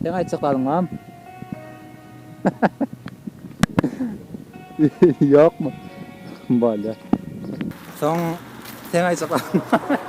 Sen aýtjak galyňam. Ýokmy? Bolýar. Soň sen aýtjak galyňam.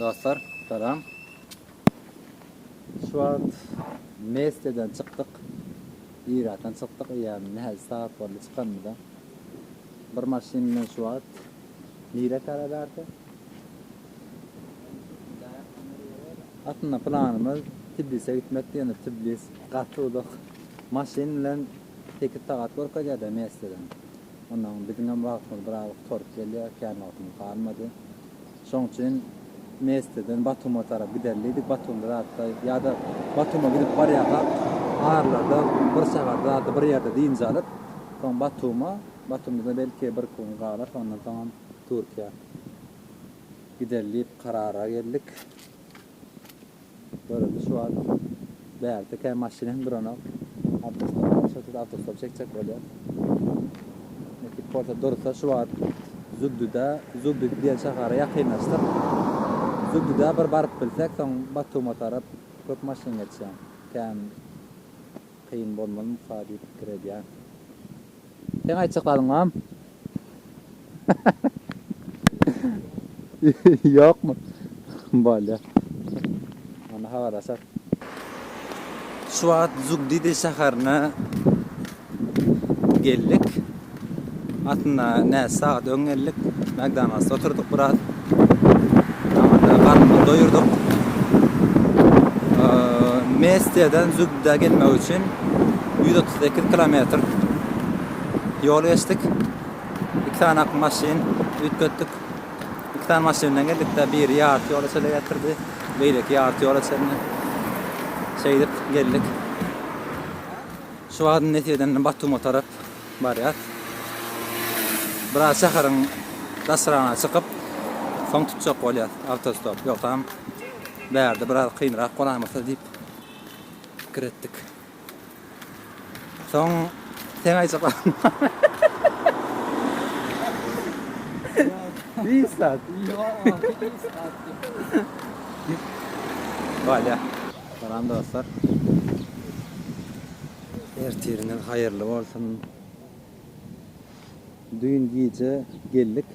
Dostlar salam. Şu wagt Mesteden çykdyk. Iratan çykdyk eýýäm näçe sagat boldy çykanymyza. Bir maşyn bilen şu wagt nirä tarap ärse? Aslynda planymyz Tbilise gitmekdi ýöne Tblis gaty uzak. Maşyn bilen sekiz sagat görkezýärde Mesteden. Ondan biziňem wagtymyz biraz gutaryp gelýär, kän wagtymyz galmady. Şoň üçin Mesteden Batuma tarap gider diýdik, Batumda zatda ýa-da Batuma gidip barýarkak aralada bir sagat zatda bir ýerde dynç alyp, soň Batuma, Batumda-da belki bir iki gün galar, ondan soňam Türkiýä gider diýip karara geldik. Görelde şu wagt bärde kä maşyn hem duranok. Awtostop bar, şol sözde awtostop çekjek bolýar. Nekip bolsa dursa şu wagt Zugduda, Zugdud diýen şahara ýakynlaşdyk. Zugduda bir baryp bilsek, soň Batuma tarap köp maşyn geçýär. Kän. kyn bolmazmyka diýip pikir edýän. Seň aýtjak zadyň barmy? Ýokmy? Bolýa. Onda habarlaşarys. Şu wagt Zugdidi şäherine geldik. Aslynda näçe sagat öň geldik. Makdonaldsda oturdyk biraz. Ýaňy-da garnymyzy doýurdyk. Mestiýadan Zubda gelmek üçin ýüz otuz sekiz kilometr ýol geçdik. Iki sany ak maşyn üýtgetdik. Iki sany maşyn bilen geldik-de, biri ýarty ýola çenli getirdi, beýleki ýarty ýola çenli. Şeýdip geldik. Şu wagt Nesiýeden Batuma tarap Barýas. Biraz şäheriň daşragyna çykyp, soň tutjak bolýas awtostop. Ýogsam, bärde biraz kynrak bolarmyka diýip pikir etdik. Soň seň aýjaklaryň barmy? Beýik zat. Ýok, beýik zat däl. Bolýar. Salam dostlar. Ertiriňiz haýyrly bolsun. Düýn gije geldik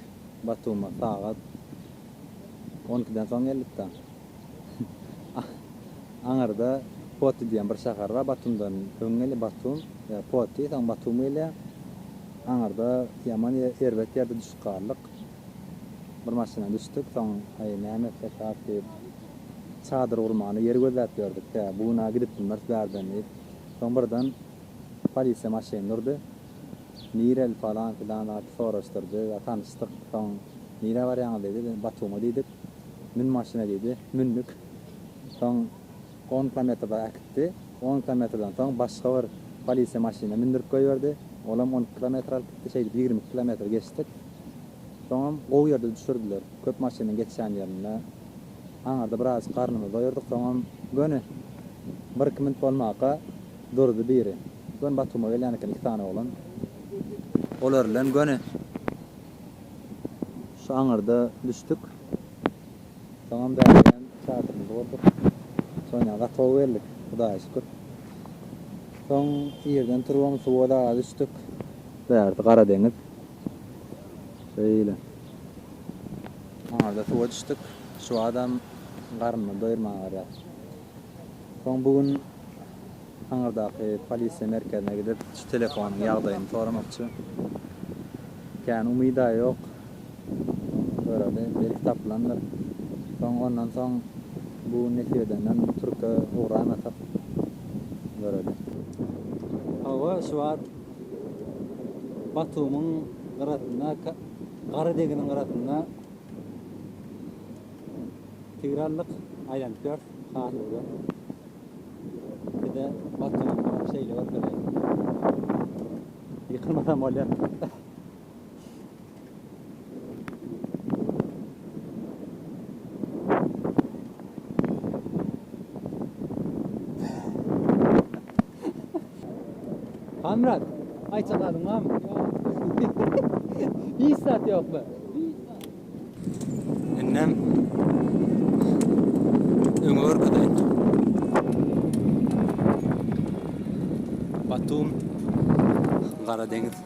Batuma sagat on ikiden soň geldikda. Aňyrda Poti diýen bir şäher bar Batumdan öň gelýär Batum ýa Poti soň Batum gelýär. Aňyrda ýaman erbet ýerde düşüp galdyk. Bir maşyna düşdük, soň, Aý, näme etsek has diýip, çadyr gurmana ýer gözläp ýördük-de, bu gün-ä gidip bilmeris bärden diýip, soň birden polisiýa maşyny durdy. Nireli falan-filan zat soraşdyrdy, tanyşdyk. Soň, Nirä barýaňyz diýdi, Batuma diýdik. Mün maşyna diýdi. Mündük. Soň. On kilometrde äkitdi. On kilometrden soň başga bir polisiýa maşynyna mündürip goýberdi. Olam on iki kilometr alyp gitdi. Şeýdip ýigrimi iki kilometr geçdik. Soňam gowy ýerde düşürdiler. Köp maşynyň geçýän ýerinde. Aňyrda biraz garnymyzy doýurdyk. Soňam göni bir-iki minut bolmaka durdy biri. Göni Batuma gelýän eken iki sany oglan. Olar bilen göni şu aňyrda düşdük. Soňam bärigem çadyrymyzy gurduk. Soňra gatow geldik, Hudaýa şükür. Soň irden turbamyzy suwa daga düşdük. Bärsi Gara deňiz. Şeýle. Soňra-da suwa düşdük. Şu wagtam garnymy doýurman garýar. Soň bu gün Aňyrdaky polisiýa merkezine gidip, şu telefonyň ýagdaýyny soramakçy. Kän umyt-a ýok. Göreli, belki tapylandyr. Soň ondan soň bu nesip edenden türke ugramasak göreli. Hawa, şu wagt Batumyň gyrasynda, gara deginiň gyrasynda tigir aldyk, aýlanyp ýörüs, has uly. Bize Batumyň şeýle görkezeýin. Ýykylmasam bolýar. Hamrat, aýt çakalyň barmy? Hiç zat ýokmy? Indem öňe görkezeýin. Batum, Gara deňiz.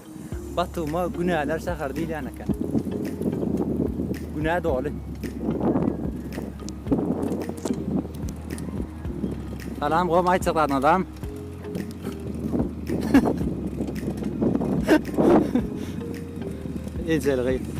Batuma günäler şäheri diýilýän eken. Günä doly. Salam gom aýtjak adam. Ejeli gyz.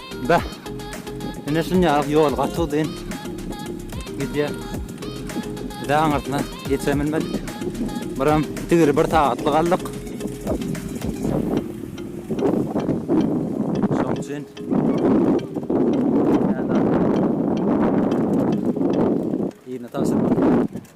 Beh. Ine şunya ýol gaty uzyn. Gidýär. Bize aňyrsyna geçebilmedik. Biram tigiri bir sagatlyk aldyk. Şoň üçin Yine tavşan.